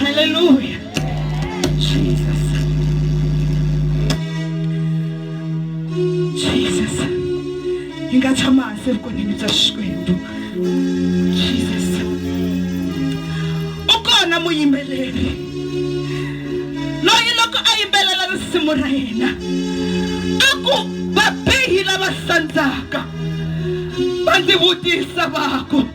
Hallelujah. Jesus. Jesus. Hi nga tshama hansi evukonini bya Xikwembu. Jesus. U kona muyimbeleri loyi loko a yimbelela risimu ra yena a ku vabihi lava sandzaka va ndzi vutisa va ku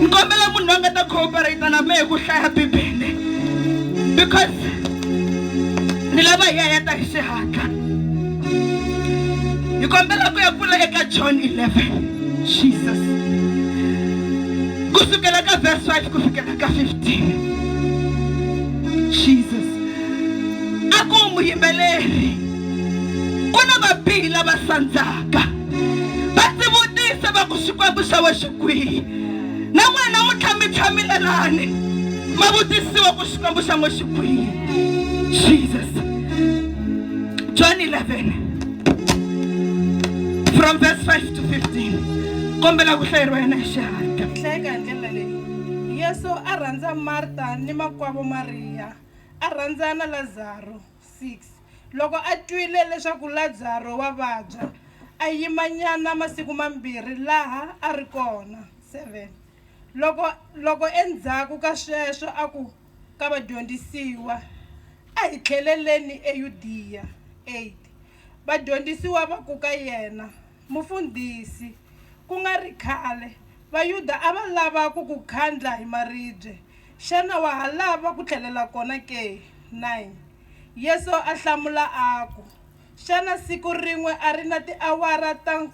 ni kombela munhu loyi a nga ta cooperate na mehe ku hlaya bibele because ni lava hi ya ya ta hi xihatla hi kombela ku ya pfula eka john 11 jesus ku sukela ka verse 5 ku fikela ka 15 jesus a ku muyimbeleri ku na vabihi lava sandzaka va ndzi vutisa va ku xikwembu xa we xi kwihi na n'wina namuntlha mi tshamile lani ma vutisiwa ku xikwembu xa n'we xi kwihi jesus john 11 from verse 5 to 15 kombela ku hlayeriwa yena hi xihatla hlayeka hi ndlela leyi yesu a rhandza marta ni makwavo mariya a rhandza na lazaro 6 Loko a twile leswaku Lazaro wa vabya, a yimanyana masiku mambirhi laha a ri kona. 7 Loko, loko endzhaku ka sweswo a ku ka vadyondzisiwa, A hi tlheleleni eYudiya. 8 Vadyondzisiwa va ku ka yena, Mufundhisi, ku nga ri khale, Vayuda a va lava ku ku khandla hi maribye. Xana wa ha lava ku tlhelela kona ke? 9 Yesu a hlamula a ku, Xana siku rin'we a ri na tiawara ta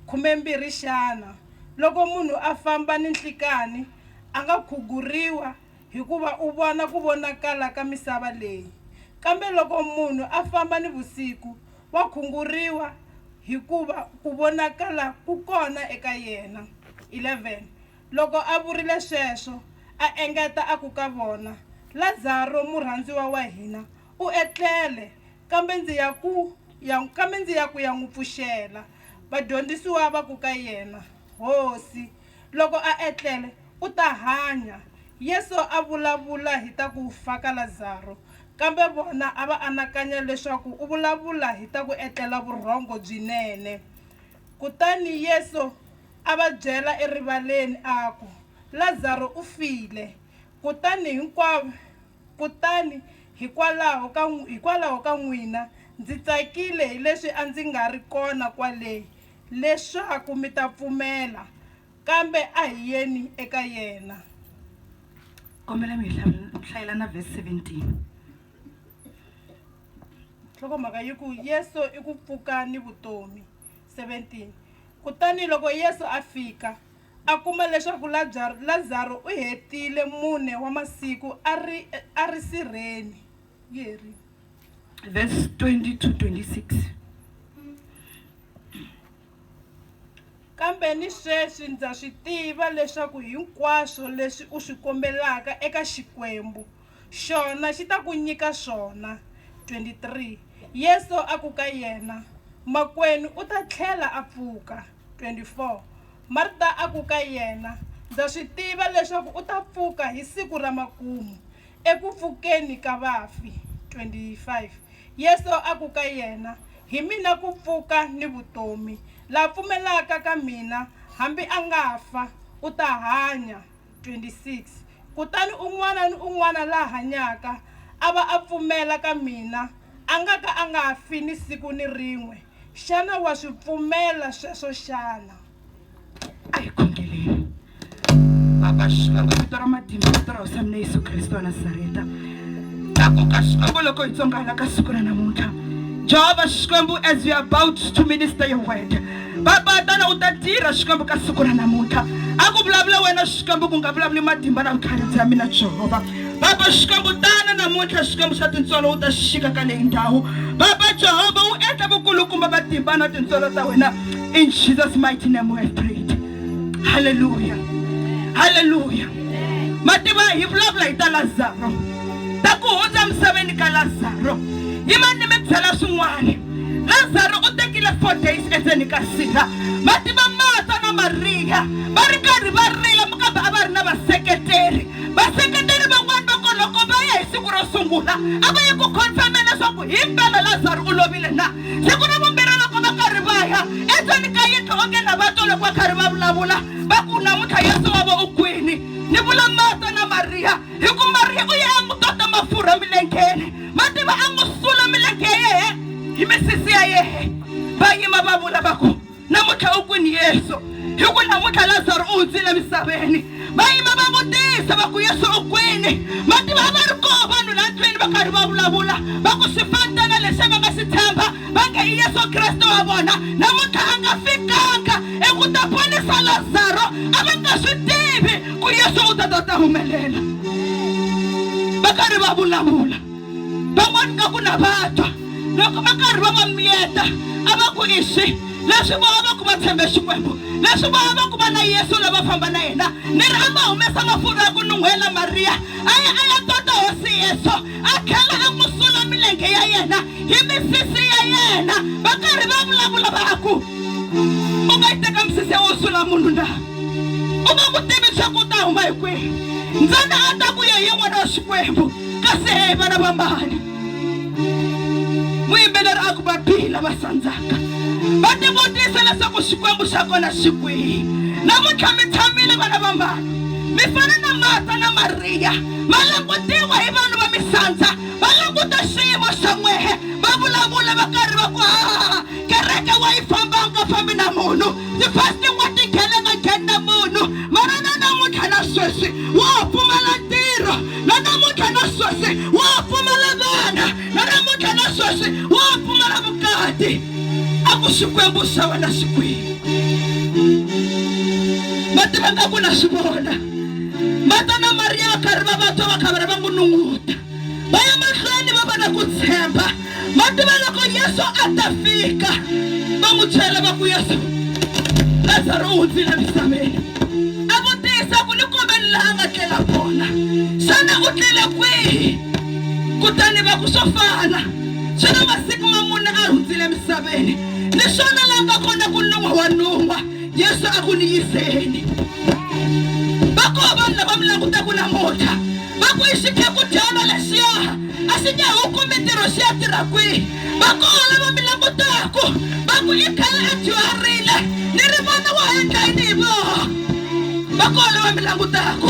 khumembirhi xana? Loko munhu a famba ninhlikanhi, a nga khuguriwa, Hikuva u vona ku vonakala ka misava leyi, kambe loko munhu a famba nivusiku, wa khunguriwa, hikuva ku vonakala ku kona eka yena. 11 Loko a vurile sweswo, a engeta a ku ka vona, Lazaro murhandziwa wa hina u etlele, kambe ndzi ya ku ya, kambe ndzi ya ku ya n'wi pfuxela. Vadyondzisiwa va ku ka yena, Hosi, Loko a etlele, u ta hanya. Yesu a vulavula hi ta ku fa ka Lazaro, kambe vona a va anakanya leswaku u vulavula hi ta ku etlela vurhongo byinene. Kutani Yesu a va byela erivaleni a ku, Lazaro u file. Kutani hinkwavo Kutani hikwalaho ka, hikwalaho ka n'wina, ndzi tsakile hi leswi a ndzi nga ri kona kwale, leswaku mi ta pfumela. Kambe a hi yeni eka yena. Kombela mi hi hlayela na verse 17. Nhlokomhaka yi ku, Yesu i ku Pfuka ni Vutomi, 17. Kutani loko Yesu a fika, A kuma leswaku Lazaro u hetile mune wa masiku a ri a ri sirheni. Yeri. Verse 20 to 26. Kambe ni sweswi ndza swi tiva leswaku hinkwaswo leswi u swi kombelaka eka Xikwembu Xona xi ta ku nyika swona. 23 Yesu a ku ka yena, Makwenu u ta tlhela a pfuka. 24 Marta a ku ka yena, Ndza swi tiva leswaku u ta pfuka hi siku ra makumu, eku pfukeni ka vafi. 25 Yesu a ku ka yena, Hi mina ku pfuka ni vutomi. La pfumelaka ka mina, hambi a nga fa, u ta hanya. 26 Kutani un'wana ni un'wana la hanyaka a va a pfumela ka mina a nga ka a nga fi ni siku ni rin'we. Xana wa swi pfumela sweswo xana? A hi khongeleni. Baba, Xikwembu, hi vito ra matimba, hi vito ra Hosi ya mina Yesu Kreste wa Nazareta. tlakuka xikwembu loko hi tsongana ka siku ra namuntlha jehovha xikwembu as we about to minister your word baba tana u ta tirha xikwembu ka siku ra namuntlha a ku vulavula wena xikwembu ku nga vulavuli matimba na vutlharisi ya mina jehovha baba xikwembu tana namuntlha xikwembu xa tintswalo u ta xixika ka leyi ndhawu baba jehovha u endla vukulukumba matimba na tintswalo ta wena in jesus mighty name we have prayed halleluya halleluya ma tiva hi vulavula hi ta lazaro ta ku hundza emisaveni ka lazaro yi ma ni mi byela swin'wana lazaro u tekile four days endzeni ka sila ma tiva mata na mariya va ri karhi va rila mukambe a va ri na vaseketeri vaseketeri van'wana va koloko va ya hi siku ro sungula a va ye ku confirma leswaku hi mpela lazaro u lovile na siku ra vumbirhi loko va karhi va ya endzeni ka yindlu onge na va twa loko va karhi va vulavula va ku namuntlha yesu wa va u kwini ni vula mata na mariya hi ku mariya u ye a n'wi tota mafurha milengeni ma tiva a n'wi sula milenge ya yehe hi misisi ya yehe va yima va vula va ku namuntlha u kwini yesu hi ku namuntlha lazaro u hundzile emisaveni va yima va vutisa va ku yesu u kwini va tiva va ri koo vanhu la ndlwini va karhi va vulavula va ku swifantana lexi va nga xi tshemba va nge i yesu kreste wa vona namuntlha a nga fikanga eku ta ponisa lazaro a va nga swi tivi ku yesu u ta ta ta humelela va karhi va vulavula van'wana nga ku na vatwa loko va karhi va va miyeta a va ku iswi leswi vona va ku va tshembe xikwembu leswi vona va ku va na yesu lava famba na yena ni ri a ma humesa mafurha ya ku nun'hwela mariya a ya a ya tota hosi yesu a tlhela a n'wi sula milenge ya yena hi misisi ya yena va karhi va vulavula va ku u nga yi teka misisi ya wo sula munhu na u nga ku tivi swa ku u ta huma hi kwihi ntsena a ta ku ye hi yin'wana wa xikwembu kasi vana va mbali muyimbeleri a ku va bihi lava sandzaka va tivutisa leswaku xikwembu xa kona xi kwihi namuntlha mi tshamile vana va mbali mi fana na mata na mariya va langutiwa hi vanhu va misandza va languta xiyimo xa n'wehe va vulavula va karhi va ku haha kereke wa yi famba u nga fambi na munhu tifasti wa tingheneka ngheni na munhu mara na namuntlha na sweswi wa ha pfumala ntirho na namuntlha na sweswi wa ha pfumala vana na namuntlha na sweswi wa ha pfumala vukati a ku xikwembu xa wena xi kwihi ma tiva nga ku na swi vona mata na mariya va karhi va vatswa va khavara va n'wi nunguta va ya mahlweni va va na ku tshemba ma tiva loko yesu a ta fika va n'wi byela va ku yesu lazaro u hundzile misaveni a vutisa ku ni kombeni laha nga tlela kona xana u tlele kwihi kutani va ku swo fana swi na masiku ma mune a hundzile misaveni ni swona la nga kona ku nun'wa wa nun'wa yesu a ku ni yiseni va koho vanhu lava mi langutaku namuntlha va ku i xikhemudyana lexiya a xi nge hu kumi ntirho xi ya tirha kwihi va koho lava mi langutaku va ku i khale a dyuharile ni ri vana wa ha endla yini hi voho va koho lava mi langutaku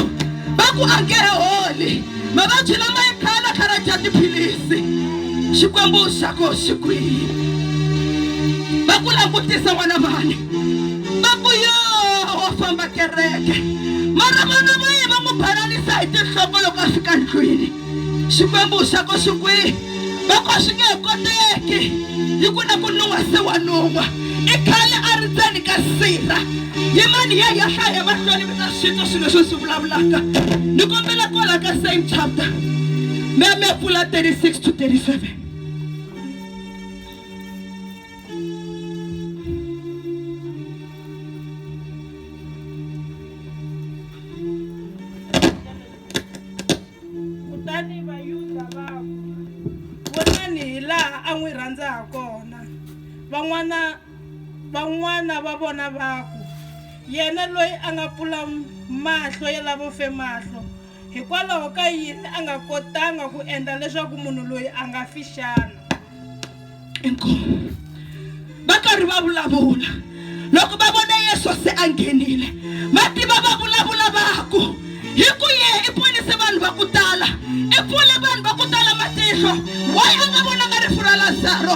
va ku a nge he holi mavabyi lama i khale a khara dya tiphilisi xikwembu xa koho xi kwihi va ku langutisa n'wana vani mambu yo wa famba kereke mara vana va ye va n'wi balalisa hi tinhloko loko a fika ndlwini xikwembu xa ko xi kwihi va ko swi nge he koteki hi ku na ku nun'wa se wa nun'wa i khale a ri ndzeni ka sirha hi mani ye ya hlaya emahlweni mi ta swi twa swilo leswi swi vulavulaka ni kombela kwala ka same chapter me me pfula 36 to 37 kutani vayuda va ku vonani hi laha a n'wi rhandza ha kona van'wana van'wana va vona va ku yena loyi a nga pfula mahlo ya lavo fe mahlo Hikwalaho ka yini a nga kotanga ku endla leswaku munhu loyi a nga fi xana? Inkomu. Va karhi va vulavula, loko va vone Yesu se a nghenile, va tiva va vulavula va ku, Hi ku ye i ponise vanhu va ku tala, i pfule vanhu va ku tala matihlo. Why a nga vonanga rifu ra Lazaro?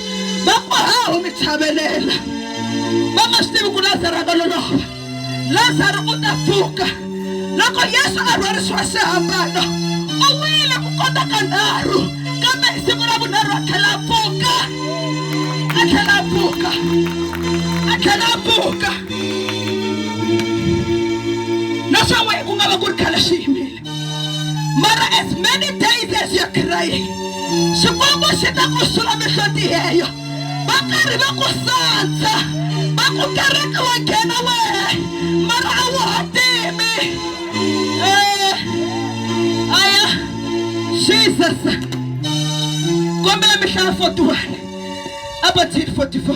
va ku hawu mi chavelela va nga swi tivi ku lazaro a nga lolova lazaro u ta pfuka loko yesu a rhwarisiwa xihambano u wile ku kota ka nharhu kambe hi siku ra vunharhu a tlhela a pfuka a tlhela a pfuka a tlhela a pfuka naswona ku nga va ku ri khale xi yimile mara as many days as you're crying xikwembu xi ta ku sula mihloti yeyo va karhi va ku sandza va ku kereke wa nghena wehe mara a wu ha timi Eh, aya jesus kombela mihlaya 41 abathini 44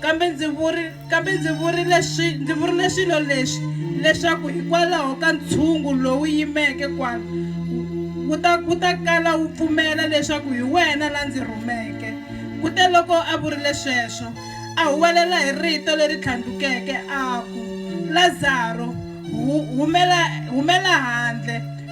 Kambe ndzi vuri kambe ndzi vurile swi ndzi vurile swilo leswi leswaku hikwalaho ka ntshungu lowu yimeke kwala wu ta wu ta kala wu pfumela leswaku hi wena la ndzi rhumeke kute loko a vurile sweswo a huwelela hi rito leri tlhandlukeke a ku lazaro humela humela handle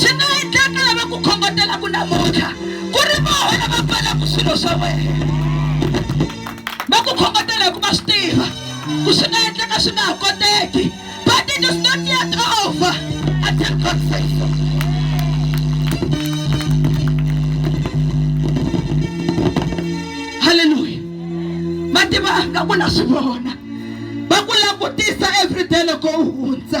swi nga endleka lava ku khongotelaku namuntlha ku ri voho lava pfalaku swilo swa wena va ku khongotela hikuva swi tiva ku swi nga endleka swi nga ha koteki but it is not yet over until God says so. halleluya va tivanga ku na swi vona va ku langutisa everyday loko u hundza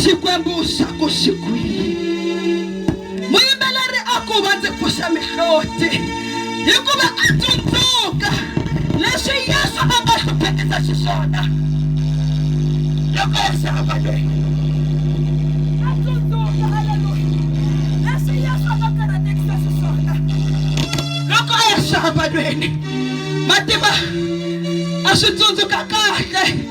xikwembu xa ku xi kwihi muyimbeleri a ku va ndzi pfuxa mihloti hikuva a tsundzuka leswi yesu a nga hluphekisa xiswona loko ya xava lweyi a tsundzuka aleluya leswi yesu a nga karatekisa xiswona loko a ya xava lweni mativa a swi tsundzuka kahle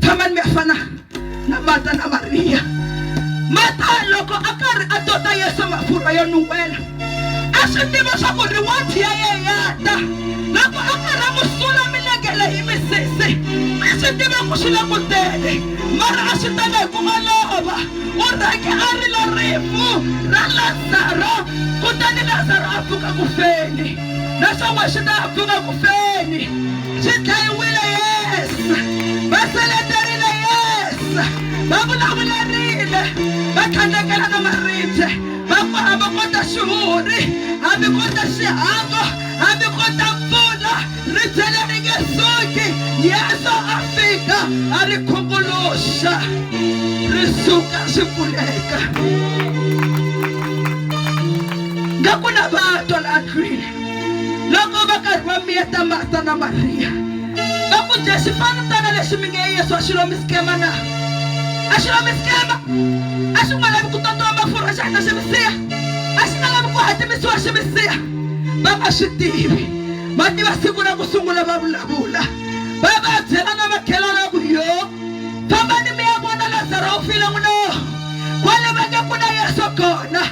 tshamani mi fana na mata na mariya mata loko a karhi a tota yesu mafurha yo nuwela a swi tiva swa ku ri wathi ya ye ya ta loko a karhi a n'wi sula milengele hi misisi a swi tiva ku swi le ku tele mara a swi tele hi ku olova u rhange a rila rifu ra lazaro kutani lazaro a pfuka ku feni naswona xi ta pfuka ku feni xi dlayiwile yes va seleterile yes va vulavulerile va tlhandlekela na maribye va ku hambi ko ta xihuhuri hambi ko ta xihango hambi ko ta mpfula ribye leri nge suki yeso a fika a ri khunguluxa ri suka swi pfuleka nga ku na vatwa la ndlwini loko va karhi va miyeta marta na mariya va ku dya xipanutana lexi mi nge yesu a xi lomi sikema na a xi lomi sikema a xi nga lavi ku totiwa mafurha xi hatla xi misiya a xi nga lavi ku hatimisiwa xi misiya va nga swi tivi va tiva siku ra ku sungula va vulavula va va byela na makhelwana ku yo fambani mi ya vona lazaro u file n'wina kwale va nge ku na yesu kona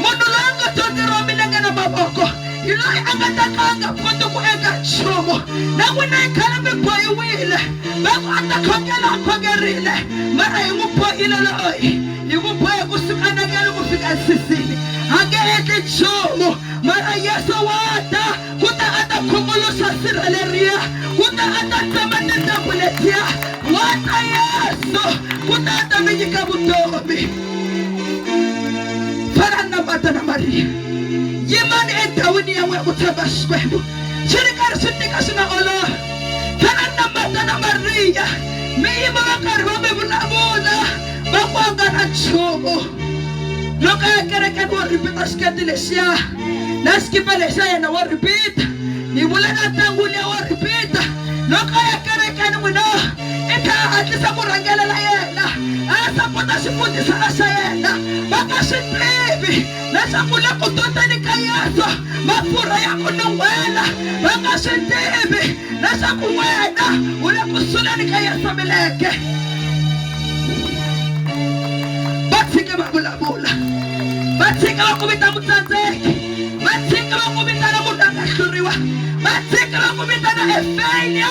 munhu loyi a nga dyondzeriwa milenge na mavoko hi loyi a nga ta ka a nga koti ku endla nchumu na n'wina yi khale mi bohiwile va ku a ta khongela a khongerile mara hi n'wi bohile loyi hi ku bohe ku suka nakele ku fika sisini a nge endli nchumu mara yesu wa ta ku ta a ta khunguluxa sirha leriya ku ta a ta tsema tintambu letiya wa ta yesu ku ta a ta mi nyika vutomi farana mata na mariya yimani endhawini ya n'we ku tshemba xikwembu swi ri karhi swi tika swi nga olova farana mata na mariya mi yima va karhi va mi vulavula va ku a nga na nchumu loko ya kerekeni wo ripita xiketi lexiya na xikipa lexiya yena wo ripita ni vula na ntangwini ya wo ripita loko ya kerekeni n'wina i ta hatlisa ku rhangelela yena a ya sapota xifundzisana xa yena va nga swi tivi leswaku le ku totseni ka yesu mafurha ya ku nun'hwela va nga swi tivi leswaku wena u le ku suleni ka yesu milenge va tshike va vulavula va tshike va ku vita mutsandzeki va tshike va ku vitana munhu a nga hluriwa va tshike va ku vitana efelia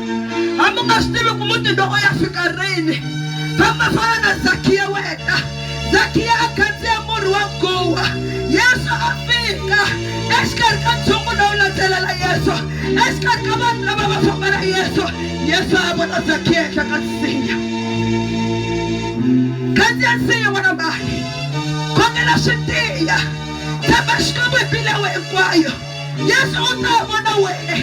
hambi u nga swi tivi ku muti lowo ya fika rini famba fana na zakiya wena zakiya a khandziya murhi wa guwa yesu a fika exikarhi ka ntsongo lowu landzelela yesu exikarhi ka vanhu lava va famba na yesu yesu a vona zakiya ehenhla ka nsinya khandziya nsinya n'wana mali khongela swi tiya tshemba xikwembu hi mbilewe hinkwayo Yesu u ta va na wena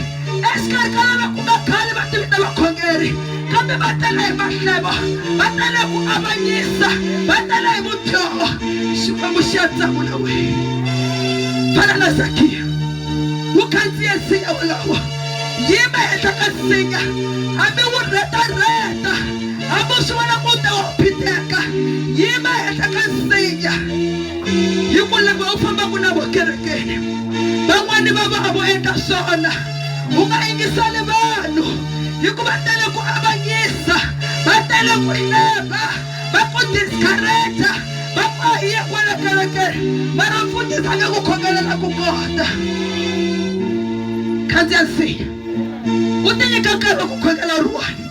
exikarhi ka lava ku nga khale va tivita vakhongeri kambe va tele hi mahlevo va tele ku avanyisa va tele hi vudyoho xikwembu xi ya tsamu na wena fana na zakiya wu khandziye nsinya wolowo yima henhla ka nsinya hambi wu rhetarheta hambi u swi vona ku te wa phiteka yima henhla ka nsinya hi ku lava u fambaka na vokerekeni van'wani va va vo endla swona u nga yingiseli vanhu hikuva tele ku avanyisa va tele ku hleba va ku discourage va ku a hi ye kwala kerekeni mara mfundhisi a nga ku khomelela ku kota khandziya nsiya u tinyika nkarhi wa ku khongela ruwani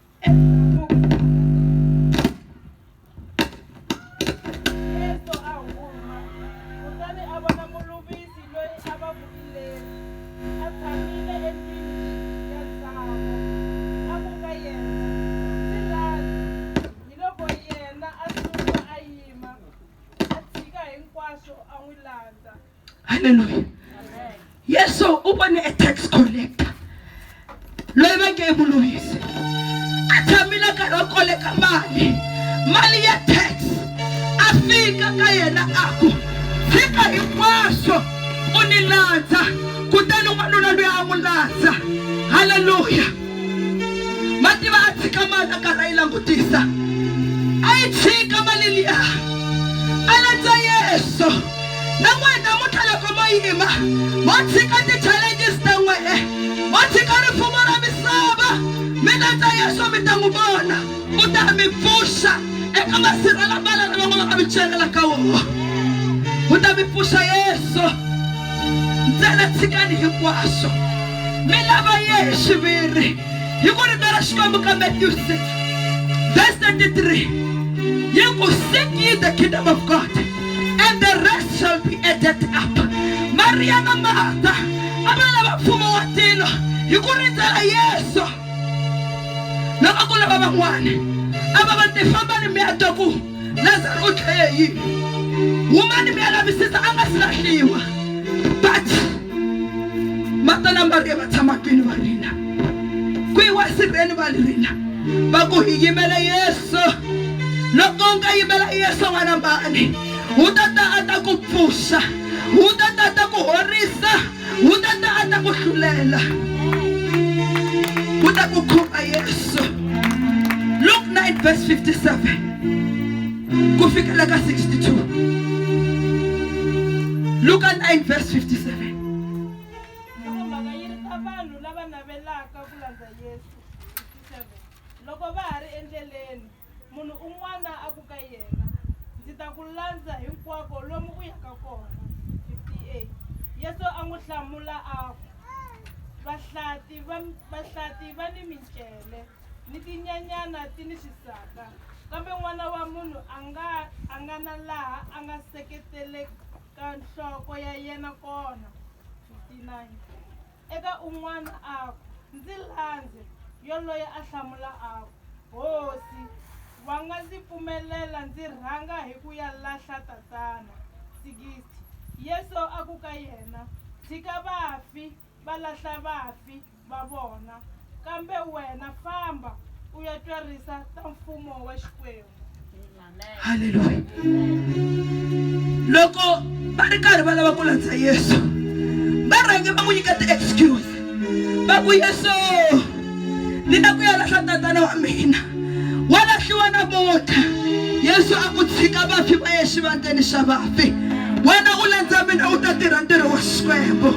Yesu a huma, kutani a vona muluvisi loyi a va ku i Levi, a tshamile endlwini ya ntsako. A ku ka yena, Ndzi lavi. Hiloko yena a suka a yima, a tshika hinkwaswo a n'wi landza. halleluya yesu u vone e tax collector loyi va nge mulungisi a tshamile nkarhi wo koleka mali mali ya tax a fika ka yena a ku tshika hinkwaswo u ni landza kutani n'wanuna loyi a n'wi landza halleluya ma tiva a tshika mali a karhi a yi langutisa a yi tshika mali liya a landza yesu namuheta muta loko mo yima mo tshika ti challenges ta n'wehe mo tshika rifumo ra misava mi ta ta yesu mi ta n'wi vona u ta mi pfuxa eka masirha lama lana va nga va ka mi celela ka woho u ta mi pfuxa yesu ntsena tshikani hinkwaswo mi lava ye hi xiviri hi ku rito ra xikwembu ka matthew 6 verse 33 yi ku seek ye the kingdom of god and the rest shall be added up mariya na marta a va lava mfumo wa tilo hi ku rindzela yesu loko ku lava van'wana a va va tifambani mi ya twa ku lazaro u tlhele yini humani mi ya lavisisa a nga si lahliwa but marta na mariya va tshama kwini va rina kwihi wasirheni va rila va ku hi yimele yesu loko u nga yimela yesu n'wana mani wu ta ta a ta ku pfuxa wu ta ta a ta ku horisa wu ta ta a ta ku hlulela wu ta ku khumba yesu luk 9 verse 57 ku fikela ka 62 luka 9 verse 57 Nhlokomhaka yi ri ta vanhu lava navelaka ku landza Yesu, 57 Loko va ha ri endleleni, munhu un'wana a ku ka yena, Ndzi ta ku landza hinkwako lomu u yaka kona, 58 Yesu a n'wi hlamula a ku, Vahlati va vahlati va ni mincele, ni tinyanyana ti ni swisaka, kambe N'wana wa munhu a nga a nga na laha a nga seketelekaka. ka nhloko ya yena kona. 59 eka un'wana a ku, Ndzi landze. Yoloye a hlamula a ku, Hosi, wa nga ndzi pfumelela ndzi rhanga hi ku ya lahla tatana. 60 Yesu a ku ka yena, Tshika vafi va lahla vafi, va vona, kambe wena famba u ya twerisa ta mfumo wa Xikwembu. Haleluya. Loko va ri karhi va lava ku landza Yesu, va rhange va n'wi nyika ti-excuse va ku Yesu ni la ku ya lahla tatana wa mina. wa lahliwa na vota yesu a ku tshika vafi va ye xivandzeni xa vafi wena u landza mina u ta tirha ntirho wa xikwembu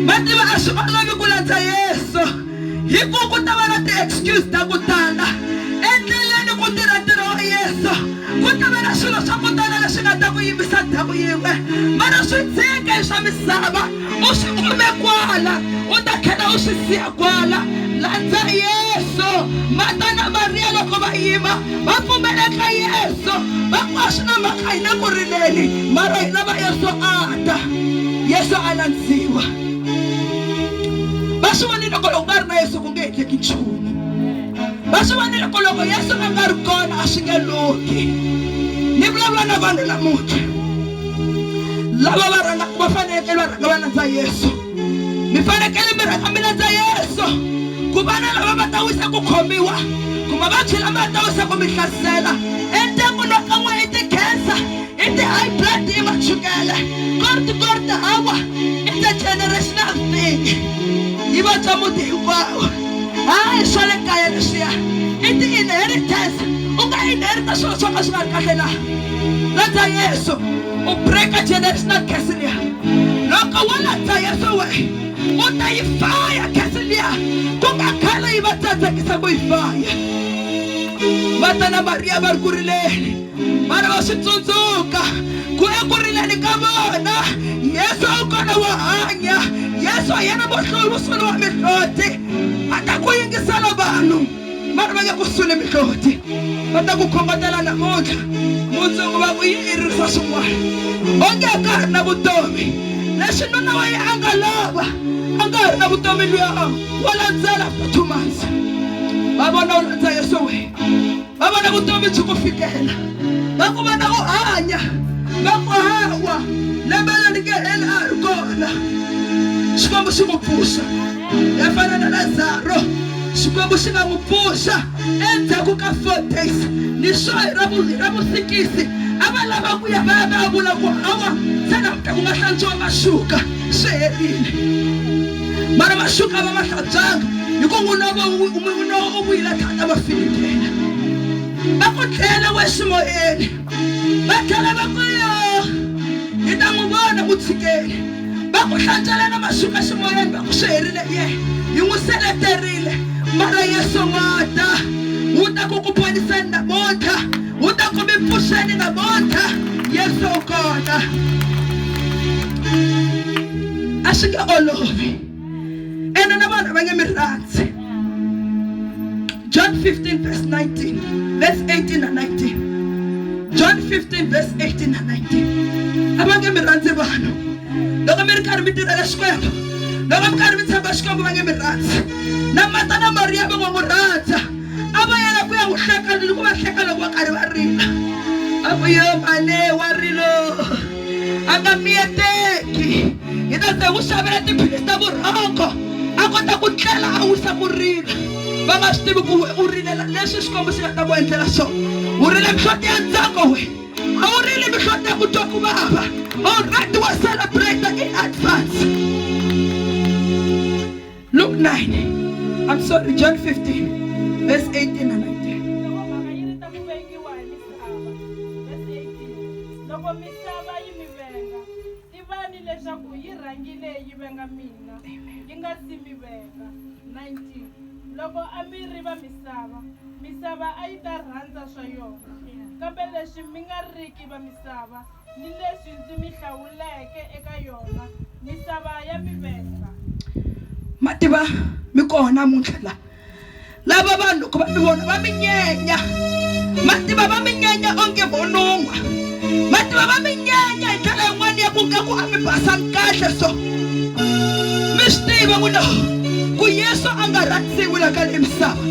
va tiva a swi olovi ku landza yesu hi ku ku ta va na ti-excuse ta ku tala endleleni ku tirha ntirho wa yesu ku ta va na swilo swa ku tala leswi nga ta ku yimisa ndhawu yin'we mara swi tshike hi swa misava u swi kume kwala u ta tlhela u swi siya kwala landza yesu mata na mariya loko va yima va pfumela ka yesu va ku a swi na mhaka hi le ku rileni mara hi lava yesu a ta yesu a landziwa va swi vonile ku loko nga ri na yesu ku nge endleki nchumu va swi vonile ku loko yesu a nga ri kona a swi nge lunghi ni vulavula na vanhu namuntlha lava va rhangaka va fanekele va rhanga va landza yesu mi fanekele mi rhanga mi landza yesu ku vana lava va ta wisa ku khomiwa ku mavabyi lama ya ta wisa ku mi hlasela endyangwini wa ka n'wina i ti-cancer i ti-high blood i machukele korti korti hawa i the generational thing yi vabya muti hinkwawo hayi swa le kaya leswiya i ti-inheritance u nga inherita swilo swo ka swi nga ri kahle na Landza Yesu, u breaka generational curse liya. Loko wo landza Yesu we, u ta yi faya curse liya ku nga khale yi va tsandzekisa ku yi faya. Marta na Mariya va ri ku rileni, va ri va swi tsundzuka ku eku rileni ka vona Yesu u kona wo hanya. Yesu hi yena muhluri musunguri wa mihloti, a ta ku yingisela vanhu. va ri va nge ku sule mihloti va ta ku khongotela namuntlha mundzuku va ku yi i ri swa swin'wana onge a ka ha ri na vutomi leswi nuna wa ye a nga lova a nga ha ri na vutomi luya wa landzela after two months va vona u landza yeso wena va vona vutomi byi ku fikela va ku vona u hanya va ku hawa lembe leri nge heli a ha ri kona xikwembu xi ku pfuxa ya fana na lazaro xikwembu xi nga n'wi pfuxa endzhaku ka four days ni swo hi ra vusikisi a va lava ku ya va ya va ya vula ku hawa se namuta ku nga hlantswiwa maxuka swi herile mara maxuka va ma hlantswanga hi ku n'wina va n'wina u vuyile thata va filikela va ku tlhela we ximoyeni va tlhela va ku yo hi ta n'wi vona mutshikeli va ku hlantswela na maxuka ximoyeni va ku swi herile ye hi n'wi seleterile mara yesu wa ta wu ta ku ku poniseni namuntlha wu ta ku mi pfuxeni namuntlha yesu u kona a swi nge olovi ene na vanhu va nge mi rhandzi john 15 verse 19 verse 18 na 19 john 15 verse 18 na 19 a va nge mi rhandzi vanhu loko mi ri karhi mi tirhela xikwembu loko mi karhi mi tshemba xikwembu va nge mi rhandzi na mata na mariya va nga n'wi rhandza a va yela ku ya n'wi hleka ni ku va hleka loko va karhi va rila a ku yo mane wa rilo a nga miyeteki hi ta ze n'wi xavela tiphilisi ta vurhongo a kota ku tlela a wisa ku rila va nga swi tivi ku we u rilela leswi xikwembu xi nga ta ku endlela swona u rile mihloti ya ntsako we a wu rili mihloti ya ku twa ku vava olright wa celebrate in advance luke 9 i'm sorry john 15 verse 18 and 19 misava. Vhesi 18, Loko misava yi mi venga, tivani leswaku yi rhangile yi venga mina, yi nga si mi venga. 19, Loko a mi ri va misava, misava a yi ta rhandza swa yona, kambe leswi mi nga riki va misava, ni leswi ndzi mi hlawuleke eka yona misava ya mivesa ma tiva mi kona namuntlha la lava vanhu loko va mi vona va mi nyenya ma tiva va mi nyenya onge vonon'wa ma tiva va mi nyenya hi ndlela yin'wana ya ku nga ku a mi basanga kahle so mi swi tiva ku no ku yesu a nga rhandziwi la ka leyi misava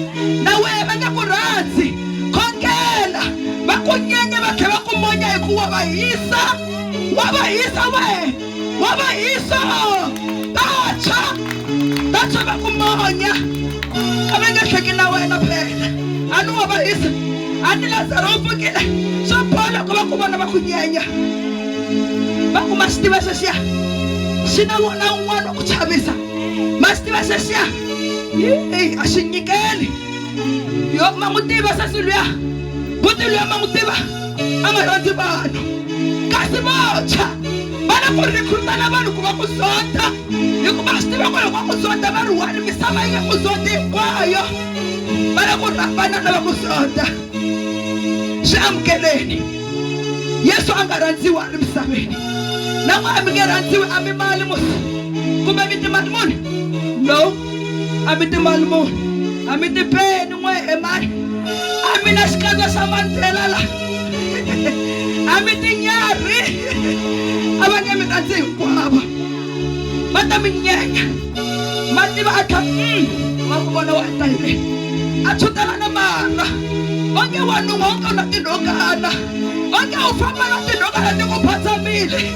na wena va nga ku rhandzi khongela va ku nyenya va tlhe va ku monya hi ku wa va hisa wa va hisa we wa va hisa vantshwa vantshwa va ku monya a va nge hleki na wena phela a ni wa va hisa a ni lazaro u pfukile swo bola ku va ku vona va ku nyenya va ku ma xi tiva xexiya xi na wona un'wana wa ku chavisa ma xi tiva xexiya a xi nyikeli yo ma n'wi tiva sesi luya buti luya ma n'wi tiva a nga rhandzi vanhu kasi votshwa va lava ku rhikhutana vanhu ku va ku zonda hikuva swi tiva ku loko va ku zonda va ri one misava yi nge ku zondi hinkwayo va lava ku rhambana lava ku zonda swi amukeleni yesu a nga rhandziwa a ri misaveni na n'we a mi nge rhandziwi a mi mali muni kumbe mi timali muni no a mi timbali mo a mi tipeni n'we e mani a mi na xikandza xa mandlela la a mi tinyarhi a va nge mi ta ndzi hinkwavo va ta mi nyenya ma tiva a kha mm, wa ku vona wa ta hi le a tshutelana marha onge wanun'wa onge u na tinhokana onge u famba na tinhokana ti ku phatsamile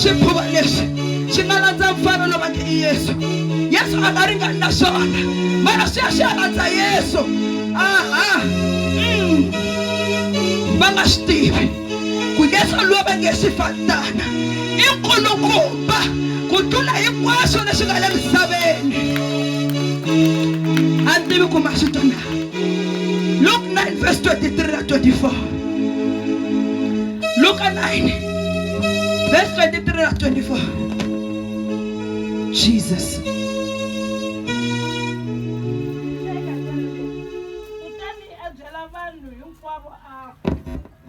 xikhuva lexi xi nga landza mfana lowu va nge i yesu yesu a nga ringani na swona mara swi ya swi ya landza yesu aha mm. va nga swi tivi ku yesu loyi va nge xifantana i nkulukumba ku tlula hinkwaswo leswi nga le misaveni a ni tivi ku ma swi twa na luke 9 verse 23 na 24 luka 9 Verse 23 na 24. Jesus. kutani a byela vanhu hinkwavo a ku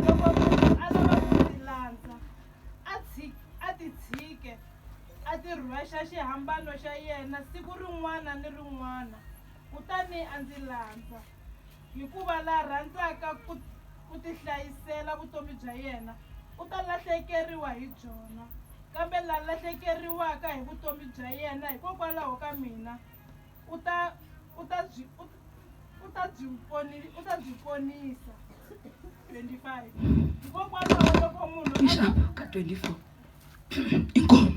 loko munhu a lava ku ndzi landza a tshi- a ti tshike a ti rhwexa xihambano xa yena siku rin'wana ni rin'wana kutani a ndzi landza Hikuva la rhandzaka ku, ku tihlayisela vutomi bya yena u ta lahlekeriwa hi byona, kambe la lahlekeriwaka hi vutomi bya yena hikokwalaho ka mina u ta, u ta byi, u, u ta byi poni, u ta byi ponisa. 25 hikokwalaho loko munhu a, Ka 24. inkomo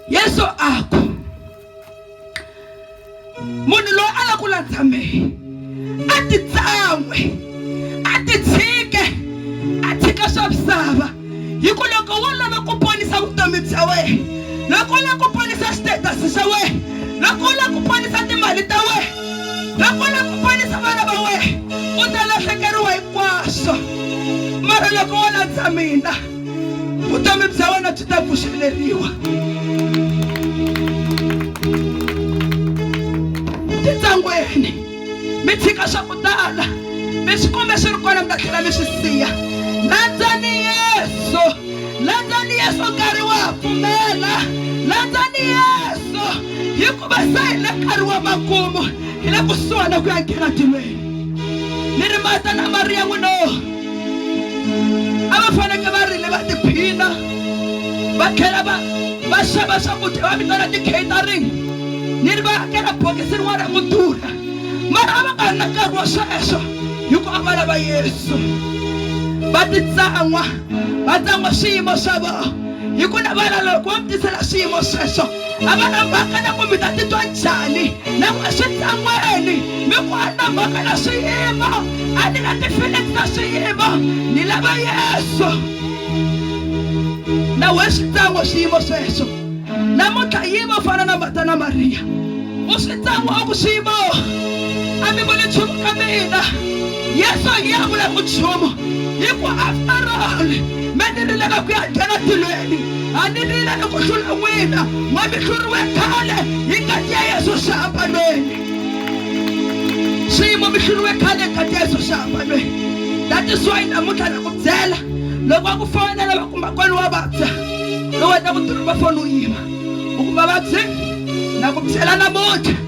yesu a ku munhu loyi a la ku landza mehe a titsan'we a titshike a tshika swa misava hi ku loko wo lava ku ponisa vutomi bya wena loko u lava ku ponisa xitetasi xa wena loko u lava ku ponisa timali ta wena loko u lava ku ponisa vana va wena u ta lahlekeriwa hinkwaswo mara loko wo landza mina vutomi bya wena byi ta pfuxeleriwa titsangweni mi tshika swa ku tala mi swi kumbe swi ri kona mi ta tlhela mi swi siya landzani yesu landzani yesu nkarhi wa ha pfumela landzani yesu hikuva se hi le nkarhi wa makumu hi le kusuhana ku ya nghena tilweni ni rimata na mariya n'wino a va faneke va rile va tiphina va tlhela va va xava swakudya va vitana ti-catering ni ri va hakela bokisi rin'wana ra ku durha mara a va nga ri na nkarhi wa sweswo hi ku a va lava yesu va titsan'wa va tsan'wa swiyimo swa vona hi ku navala loko wo mi tisela swiyimo sweswo a va na mhaka na ku mi ta titwa njhani na ku eswitlan'weni mi ku a na mhaka na swiyimo a ni na tifileti ta swiyimo ni lava yesu na we swi tlango swiyimo sweswo namuntlha yimo fana na mata na mariya u swi tlango a ku swiyimo a mi voni nchumu ka mina yesu a ngi ya vula ku nchumu hi ku after all me ni rileka ku ya nghena tilweni a ni rila ni ku hlula n'wina ma mi hluriwe khale hi ngati ya yesu xihambanweni swiyimo mi hluriwe khale hi ngati ya yesu xihambanweni that is why namuntlha na ku byela loko va ku fonela va ku makwani wa vabya lowu wena ku tirhi va foni u yima u ku vavabyi na ku byela namuntlha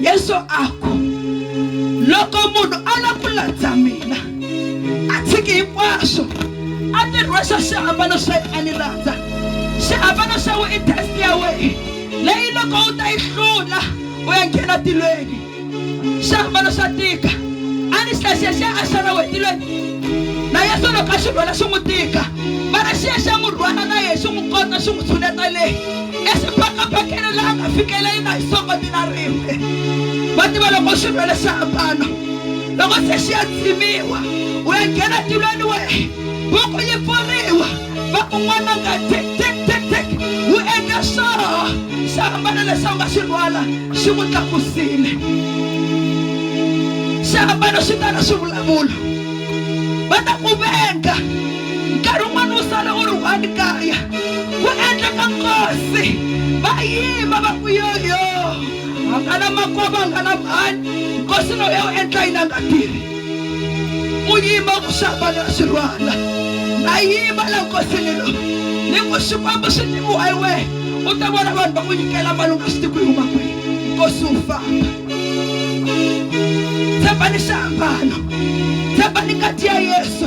yesu a ku loko munhu a la ku landza mina a tshiki hinkwaswo a ti rhwexa xihambano xa yena a ni landza xihambano xa we i test ya wehe leyi loko u ta yi hlula u ya nghena tilweni xihambano xa tika a ni xexexe a xana we tilweni na yesu loko a xi rhwela xi n'wi tika mara xi ya xa n'wi rhwala na yehe xi n'wi kota xi n'wi tshuneta leyi eswibakabakeni laha nga fikela yi nga hisongo mina rimbe va tiva loko swi lwele swi hambana loko se xi ya tsimiwa u ya nghena tilweni we buku yi pfuriwa va ku n'wana nga tik tik tik tik wu endla swoho swi hambana leswi a nga swi rhwala xi n'wi tlakusile swi hambana swi tala swi vulavula va ta ku venga nkarhi wun'wana u sala u ri one kaya ku endleka nkosi va yima va ku yoyo a nga na makwavo a nga na mhani nkosi loyi a wu endla yini a nga tirhi u yima ku xava na swi rhwala na yima la nkosini lo ni ku xikwembu xi tiviwa hi wena u ta vona vanhu va ku nyikela mali u nga swi tivi ku yi huma kwihi nkosi wu famba tshembani xiambalo tshembani ngati ya yesu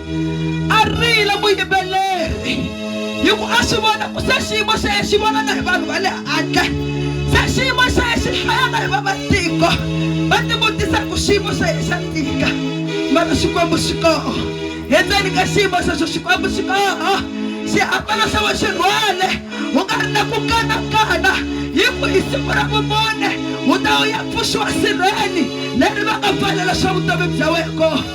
a rila vuyimbeleri hi ku a swi vona ku se xiyimo xa ye xi vona na hi vanhu va le handle se xiyimo xa ye xi hlaya na hi va matiko va tivutisa ku xiyimo xa ye xa tika mara xikwembu xi koho endzeni ka xiyimo xexo xikwembu xi koho xiambalo xa we xi rhwale wu nga ri na ku kanakana hi ku hi siku ra vumune wu ta wu ya pfuxiwa sirheni leri va nga pfalela swa vutomi bya wena kona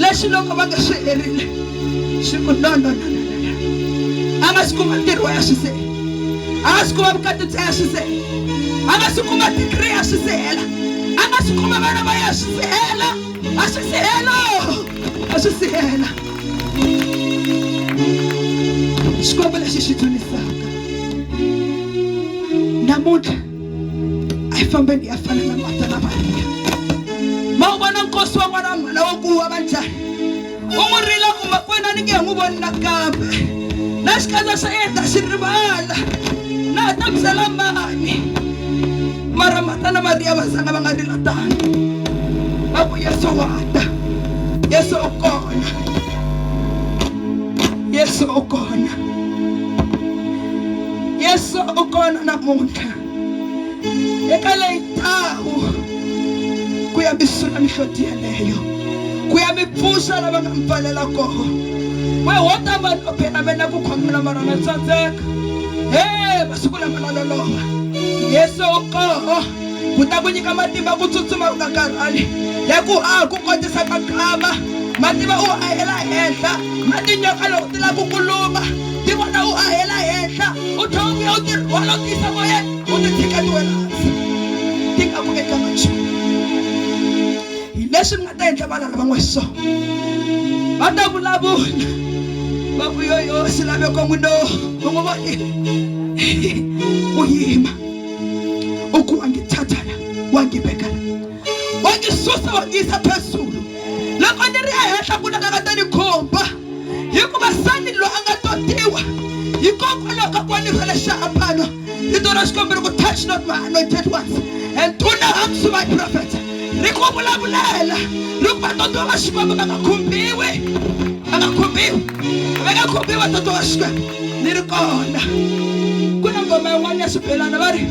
leswi loko va nga swi herile swi ku no no no no no a nga swi kuma ntirho wa ya swi se a nga swi kuma vukati bya ya swi se a nga swi kuma digiri ya swi sehela a nga swi kuma vana va ya swi sehela a swi sehela a swi sehela xikwembu lexi xi dzunisaka namuntlha a yi fambeni ya fana na mata na mariya ma wu vona nkosi wa n'wana mhana wa ku wa va njhani u n'wi rila ku makwena ni nge n'wi voni nakambe na xikandza xa yena ta xi rivala na ha ta byela mani mara mata na mariya va zanga va nga rila tano va ku yesu wa ta yesu u kona yesu u kona yesu u kona namuntlha eka leyi ndhawu ku ya mi sula mihloti yeleyo ku ya mi pfuxa lava nga mi pfalela koho we ho ta mani o phela me na ku khongela mara na tsandzeka he masiku lama na loloha yesu u koho ku ta ku nyika matimba ku tsutsuma u nga karhali ya ku a ku kotisa ka nkama mativa u hela henhla matinyoka loko ti lava ku ku luva ti vona u ahela henhla u tlhe u vuya u ti rhwala u tiyisa moyeni u ti tshika ti wela hansi ti nga ku endlanga nchumu hi leswi mi nga ta endla vana lava n'we so va ta vulavula va ku yoyo swilaveko n'wi no u n'wi vonile u yima u ku wa ngi thathana wa ngi vekana wa ngi susa wa ngi yisa phezulu loko ni ri ehenhla ku nakaka ta ni khumba hikuva sani loyi a nga totiwa hikokwalaho ka ku va ni rhwele xihambano rito ra xikwembu ri ku touch not my anointed ones and do no harm to my prophet ri ku vulavulela ri ku vatotiwa va xikwembu va nga khumbiwi va nga khumbiwi va nga khumbiwi vatotiwa va xikwembu ni ri kona ku na ngoma yin'wana ya xibelana va ri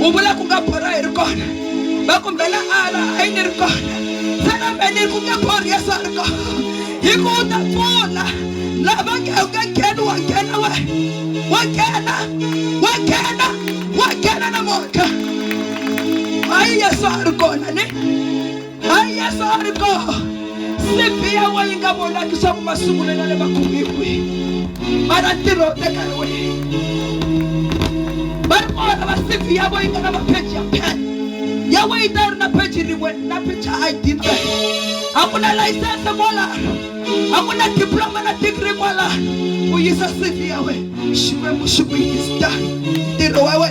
u vula ku nga borha hi ri kona va kumbela ala a yi ni ri kona se na me ni ri ku nge borhi yeso a ri kona hi ku u ta pfuna lava nge u nge ngheni wa nghena we wa nghena wa nghena wa nghena na mhaka hayi yesu a ri kona ni hayi yesu a ri kona sibi ya we yi nga vonaki swa ku masungulela le makumiwi mara ntirho u teka hi wena va ri vona va sibi ya we yi nga na mapheji ya phela ya we yi ta yi ri na pheji rin'we na pheji id ntsena a ku na layisense kwala a ku na diploma na degree kwala u yisa cv ya we xikwembu xi ku yista ntirho wa we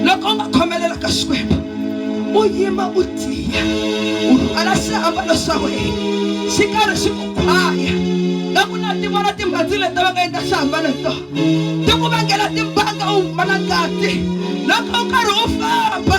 loko u nga khomelela ka xikwembu u yima u tiya u rhwala swiambalo swa wena xi karhi xi ku khwaya na ku na tivona timhandzi leti va nga endla swiambalo hi tona ti ku vangela timbanga u humala ngati loko u karhi u famba